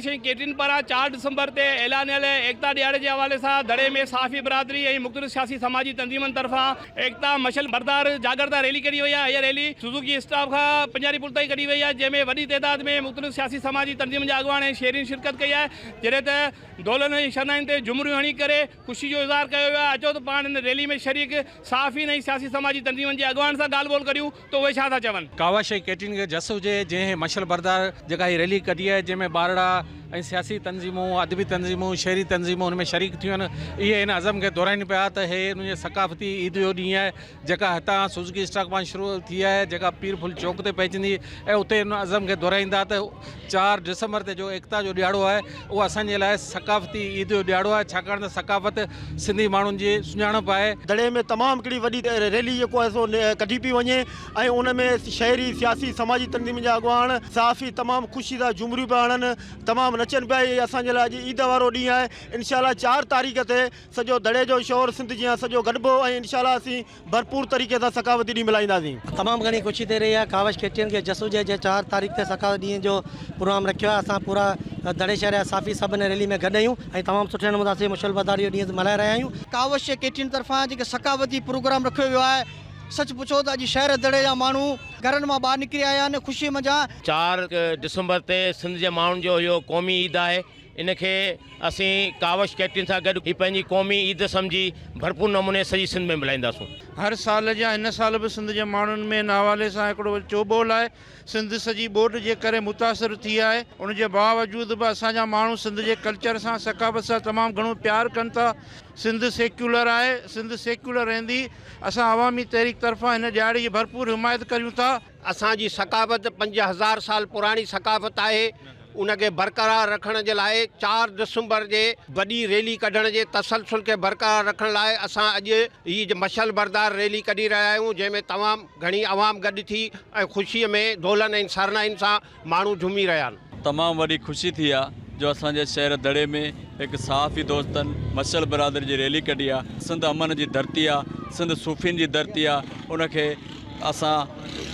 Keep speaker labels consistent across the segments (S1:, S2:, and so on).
S1: شيء ڪيٽرين پاران چار ڊسمبر تي اعلانيل ايڪتا ڏياڙي جي حوالي سان دڙي ۾ صحافي برادري ۽ مختلف سياسي سماجي تنظيمن طرفان ايڪتا مشعل بردار جاڳرتا ريلي ڪڍي وئي آهي هيء ريلي سوزوڪي اسٽاپ کان پنجاري پل تائين ڪڍي وئي آهي جنهن ۾ وڏي تعداد ۾ مختلف سياسي سماجي تنظيمن جا اڳواڻ ۽ شهرين شرڪت ڪئي آهي جڏهن ته دولن ۽ شرنائن تي جهمريون هڻي ڪري خوشي جو اظهار ڪيو ويو آهي اچو ته پاڻ هن ريلي ۾ شريڪ صحافين ۽ سياسي سماجي تنظيمن جي اڳواڻن سان ڳالهه ٻولهه ڪريون. ته اهي ڇا ٿا چون؟ ڪاوش ۽ ڪيٽرين کي
S2: جس هجي جنهن هي مشعل بردار جيڪا هي ريلي ڪڍي آهي جنهن ۾ ٻارڙا ۽ سياسي تنظيمون، ادبي تنظيمون، شعري تنظيمون ان ۾ شريڪ ٿيون آهن اهي ان عزم کي دهرائين پيا ته هي انهن جي ثقافتي عيد جو ڏينهن آهي جيڪا هتان سوزوڪي اسٽاڪ مان شروع ٿي آهي جيڪا پير ڦل چوڪ تي پهچندي ۽ اتي ان عزم کي دهرائيندا ته چار ڊسمبر تي جو ايڪتا جو ڏيھاڙو آھي اھو اسان جي لاء ثقافتي عيد جو ڏيھاڙو آھي ڇاڪاڻ ته ثقافت سنڌي ماڻھن جي سڃاڻپ آھي. دڙي ۾ تمام ھڪڙي
S3: وڏي ريلي جيڪو آھي سو ڪڍي پئي وڃي ۽ ان ۾ شھري سياسي سماجي تنظيمن جا اڳواڻ صحافي تمام خوشي سان جھومريون پيا ھڻن تمام نچن پيا ھي اسان جي لاء اڄ عيد وارو ڏينھن آھي انشاء الله چار تاريخ تي سڄو دڙي جو شھر سنڌ جيان سڄو گڏبو ۽ انشاء الله اسين ڀرپور طريقي سان ثقافتي ڏينهن ملهائينداسين. تمام گهڻي خوشي ٿي
S4: رهي آهي ڪاوش کيتين کي جسو جي جي چار تاريخ تي ثقافت ڏينهن جو پروگرام رکيو آهي اسان پورا دڙي شهر جا صافي سڀ هن ريلي ۾ گڏ اهيون ۽ تمام سٺي نموني سان سي مشعل بدار اهو ڏينهن ملهائي رهيا آهيون. ڪاوش جي کيتين طرفان
S5: جيڪي ثقافتي پروگرام رکيو ويو آهي سچ پڇو ته اڄ شهر دڙي جا ماڻهو گهرن مان ٻاهر نڪري آيا آهن خوشي منجهان. چار
S6: ڊسمبر تي سنڌ جي ماڻهن جو اهو قومي عيد آهي. ان کي اسين ڪاوش ڪيٽرين سان گڏ هي پنهنجي قومي عيد سمجهي ڀرپور نموني سڄي سنڌ ۾ ملهائينداسون. هر سال جيان
S7: هن سال به سنڌ جي ماڻهن ۾ ان حوالي سان هڪڙو چوٻول آهي. سنڌ سڄي ٻوڏ جي ڪري متاثر ٿي آهي. ان جي باوجود به اسان جا ماڻهو سنڌ جي ڪلچر سان ثقافت سان تمام گهڻو پيار ڪن ٿا. سنڌ سيڪيولر آهي، سنڌ سيڪيولر رهندي. اسان عوامي تحريڪ طرفان هن ڏهاڙي جي ڀرپور حمايت ڪريون ٿا. اسان جي ثقافت
S8: پنج هزار سال پراڻي ثقافت آهي ان کي برقرار رکڻ جي لاء چار دسمبر جي وڏي ريلي ڪڍڻ جي تسلسل کي برقرار رکڻ لاء اسان اڄ هي مشعل بردار ريلي ڪڍي رهيا آهيون جنهن ۾ تمام گهڻي عوام گڏ ٿي ۽ خوشي ۾ دولن ۽ سرناهين سان ماڻهو جهومي رهيا آهن. تمام وڏي خوشي ٿي
S9: آ جو اسان جي شهر دڙي ۾ هڪ صحافي دوستن مشعل برادري جي ريلي ڪڍي آ سنڌ امن جي ڌرتي آ سنڌ صوفين جي ڌرتي آ ان کي اسان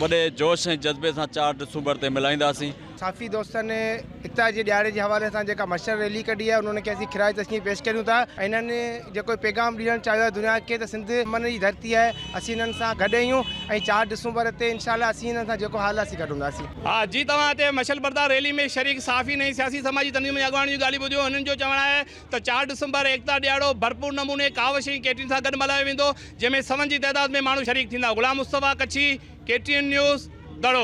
S9: وڏي جوش ۽ جذبي سان چار ڊسومبر تي ملهائينداسين. صحافي دوستن
S5: ايڪتا جي ڏيهاڙي جي حوالي سان جيڪا مشعل ريلي ڪڍي آ انهن کي اسين خراج تحسين پيش ڪريون ٿا ۽ انهن جيڪو پيغام ڏيڻ چاهيو آ دنيا کي ته سنڌ امن جي ڌرتي آهي. اسين انهن سان گڏ اهيون ۽ چار ڊسمبر تي انشاء الله اسين انهن سان جيڪو حال آهي اسين گڏ هونداسين. ها جي توهان هتي
S1: مشعل بردار ريلي ۾ شريڪ صحافين ۽ سياسي سماجي تنظيمن جي اڳواڻن جون ڳالهيون ٻڌيون هنن جو چوڻ آهي ته چار ڊسمبر ايڪتا ڏيهاڙو ڀرپور نموني ڪاوش ۽ ڪيٽرين سان گڏ ملهايو ويندو جنهن ۾ سون جي تعداد ۾ ماڻهو شريڪ ٿيندا غلام مصطفيٰ ڪڇي، ڪيٽرين نيوز، دڙو.